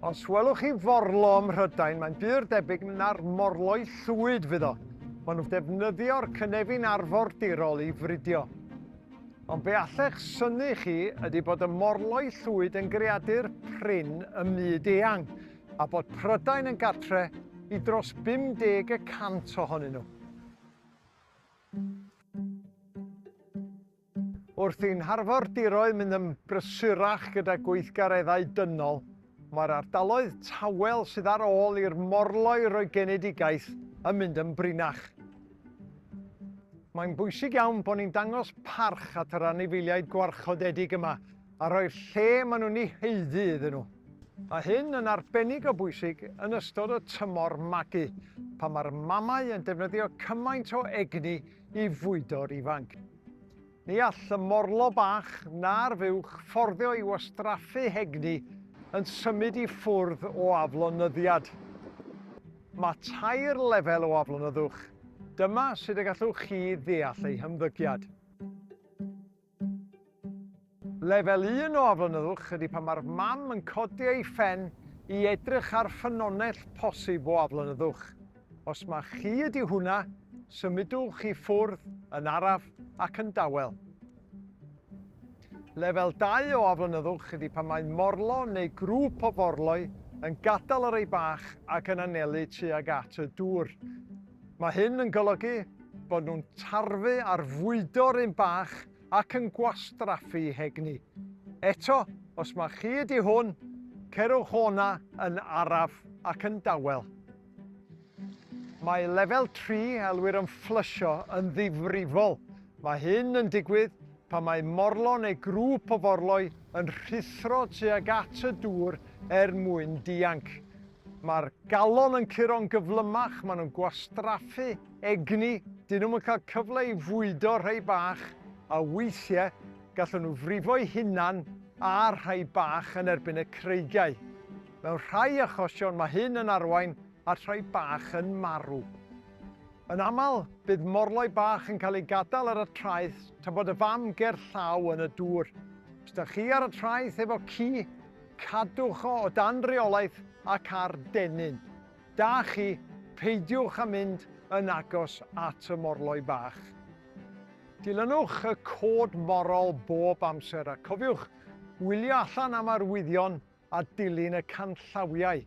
Os welwch chi forlo ym Mhrydain, mae'n bur debyg na'r morloi llwyd fydd o. Maen nhw'n defnyddio'r cynefin arfordirol i fridio. Ond be allech syni chi ydy bod y morloi llwyd yn greadur prin ym myd eang, a bod Prydain yn gartre i dros 50 y cant ohonyn nhw. Wrth i'n harfordiroedd mynd yn brysurach gyda gweithgareddau dynol, mae'r ardaloedd tawel sydd ar ôl i'r morloi roi genedigaeth yn mynd yn brinach. Mae'n bwysig iawn bod ni'n dangos parch at yr anifeiliaid gwarchodedig yma a rhoi'r lle maen nhw'n ei haeddu iddyn nhw. Mae hyn yn arbennig o bwysig yn ystod y tymor magu, pan mae'r mamau yn defnyddio cymaint o egni i fwydo'r ifanc. Ni all y morlo bach na'r fuwch fforddio i wastraffu hegni yn symud i ffwrdd o aflonyddiad. Mae tair lefel o aflonyddwch, dyma sut y gallwch chi ddeall eu hymddygiad. Lefel un o aflonyddwch ydy pan mae'r mam yn codi ei phen i edrych ar ffynonell posib o aflonyddwch. Os mai chi ydy hwnna, symudwch i ffwrdd yn araf ac yn dawel. Lefel dau o aflonyddwch ydy pan mae morlo neu grŵp o forloi yn gadael yr ei bach ac yn anelu tuag at y dŵr. Mae hyn yn golygu bod nhw'n tarfu ar fwydo'r un bach ac yn gwastraffu hegni. Eto, os mae'r chi ydi hwn, cerwch o'na yn araf ac yn dawel. Mae lefel 3, elwir yn fflysio, yn ddifrifol. Mae hyn yn digwydd pan mae morlo neu grŵp o forloi yn rhuthro tuag at y dŵr er mwyn dianc. Mae'r galon yn curo'n gyflymach, maen nhw'n gwastraffu egni, dyn nhw'm yn cael cyfle i fwydo rhai bach, a weithiau gallwn nhw frifo'u hunan a rhai bach yn erbyn y creigiau. Mewn rhai achosion mae hyn yn arwain at rhai bach yn marw. Yn aml, bydd morloi bach yn cael ei gadael ar y traeth tra bod y fam ger llaw yn y dŵr. Os da chi ar y traeth efo ci, Cadwch o o dan reolaeth ac ar dennyn da chi, peidiwch â mynd yn agos at y morloi bach. Dilynwch y cod morol bob amser a cofiwch wylio allan am arwyddion a dilyn y canllawiau.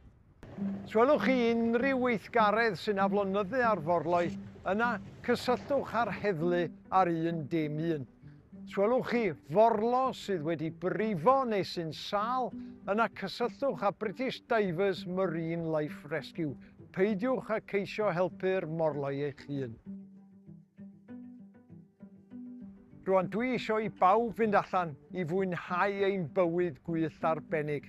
Os gwelwch chi unrhyw weithgaredd sy'n aflonyddu ar forloi, yna cysylltwch â'r heddlu ar 111. Os gwelwch chi forlo sydd wedi brifo neu sy'n sâl, yna cysylltwch â British Divers Marine Life Rescue. Peidiwch â ceisio helpu'r morloi eich hun. Rwan dwi eisiau i bawb fynd allan i fwynhau ein bywyd gwyllt arbennig.